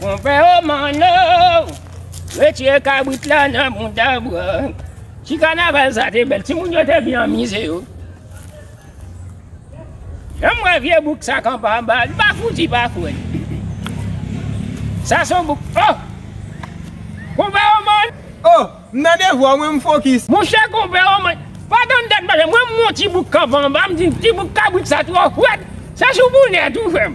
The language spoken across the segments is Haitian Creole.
Konpè o manno retire kabrit la nan bouda bran. Ti kanaval sa te bèl, ti moun yo te byen anmize yo. Janm wè vye bouk sa kanpe anba, li pa fouti pa fwèt. Sa son bouk, oh! Konpè o manno! Oh! M nan devwa w mwen m fokis. Monchè konpè o manno, pa tann tèt pale, mwen m wè yon ti bouk kanpe anba, m di ti bouk kabrit sa twò fwèt, se sou boulèt ou fè m.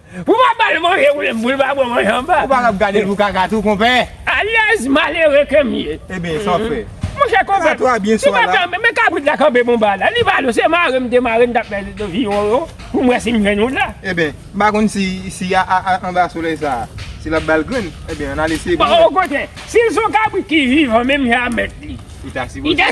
Pou pa bal manje ou menm pou l pa bò manje anba. Ou pa kab gade pou kaka tou konpè. Alèz malere ke m ye. Ebyen sa w fè. Monchè konpè. Sa twa byen swa la. Men kabrit la kanpe bon ba la. Li pa dous se mare m te mare m tap fè viyon yo pou m wè si m jwenn yon la. Ebyen m pa konn si si a anba solèy sa a si l ap bal grenn. Ebyen an al eseye pou m wè. Okontrè si l son kabrit ki vivan menm jan a mèt li. Li ta sipoze.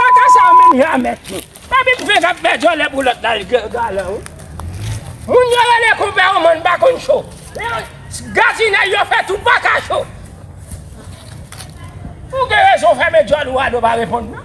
Kaka sa yo menm la mèt yo. Epi m fenk ap fè djòlè pou lòt la li gen galan wi. Moun yo rele konpè yo man pa konn cho. Gradinay yo fè tou pa ka cho. Ou gen rezon fèmen djòl ou a nou pa reponn nan.